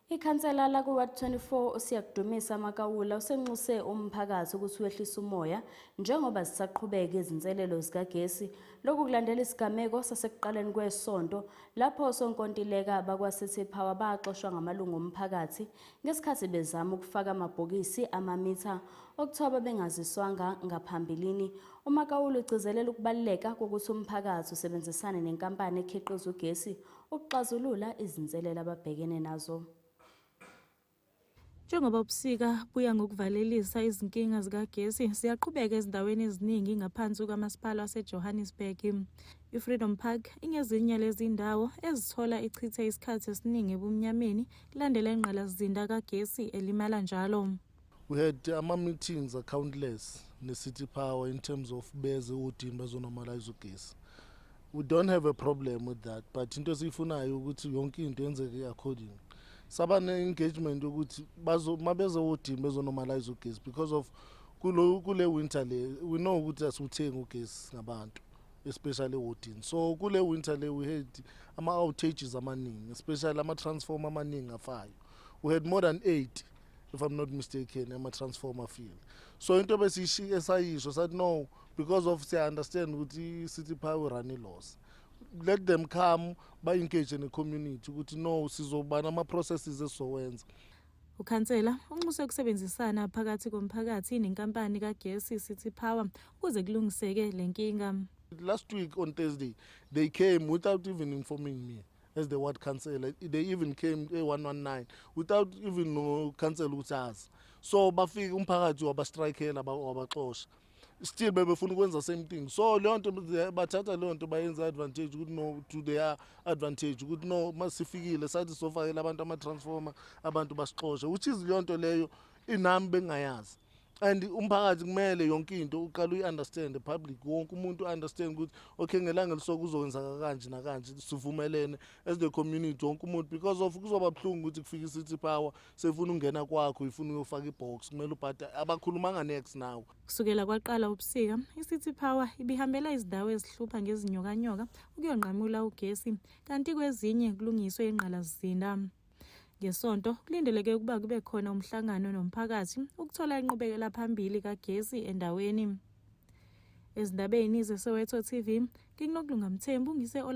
Ikhansela lakuWard 24 uSiyakudumisa Makawula usenxuse umphakathi ukuthi wehlise umoya njengoba zisaqhubeka izinselelo zikagesi. Lokhu kulandela isigameko sasekuqaleni kwesonto lapho osonkontileka bakwaCity Power baxoshwa ngamalungu omphakathi ngesikhathi bezama ukufaka amabhokisi amamitha okuthiwa babengaziswanga ngaphambilini. UMakawula ugcizelela ukubaluleka kokuthi umphakathi usebenzisane nenkampani ekhiqiza ugesi ukuxazulula izinselelo ababhekene nazo. Njengoba ubusika buya ngokuvalelisa izinkinga zikagesi ziyaqhubeka ezindaweni eziningi ngaphansi kukamasipala waseJohannesburg. I-Freedom Park ingezinye lezi ndawo ezithola ichithe isikhathi esiningi ebumnyameni kulandela ingqalasizinda kagesi elimala njalo. We had ama meetings are countless ne City Power in terms of beze udini bazonormalize ugesi. We don't have a problem with that but into esiyifunayo ukuthi yonke into yenzeke according. Saba ne engagement ukuthi bazo mabeze udini bezonormalize ugesi because of kulo kule winter le we know ukuthi asuthengi ugesi ngabantu especially wodini so kule winter le we had ama outages amaningi especially ama transformer amaningi afayo we had more than 8 if i'm not mistaken ema-transformer field so into besiyishike sayisho sathi no because of siya-understand ukuthi i-city power urun i-loss let them come ba-engage ne-community ukuthi no sizobana ama-processes esizowenza Ukhansela unxuse ukusebenzisana phakathi komphakathi nenkampani kagesi City Power ukuze kulungiseke le nkinga. Last week on Thursday they came without even informing me. as the ward councillor they even came e-119 without even nocancela ukuthi azi so bafike umphakathi wabastrikela wabaxosha still bebefuna ukwenza same thing so leyo nto bathatha leyo nto bayenza advantage ukuthi no to their advantage ukuthi no masifikile sathi sofakela abantu ama-transformer abantu basixoshe which is leyo nto leyo inami bengingayazi and umphakathi kumele yonke into uqala uyi-understand public wonke umuntu u-understand ukuthi okay ngelanga elisoke kuzokwenzaka kanje nakanje sivumelene as the community wonke umuntu because of kuzoba buhlungu ukuthi kufike i-city power sefuna ungena kwakho ifuna uyofaka i-box kumele ubhada abakhulumanga nex nawe kusukela kwaqala ubusika i-city power ibihambela izindawo ezihlupha ngezinyokanyoka ukuyonqamula ugesi kanti kwezinye kulungiswe ingqalasizinda Ngesonto kulindeleke ukuba kube khona umhlangano nomphakathi ukuthola inqubekela phambili kagesi endaweni. Ezindabeni zeSoweto TV, ngikunokulunga Mthembu ngise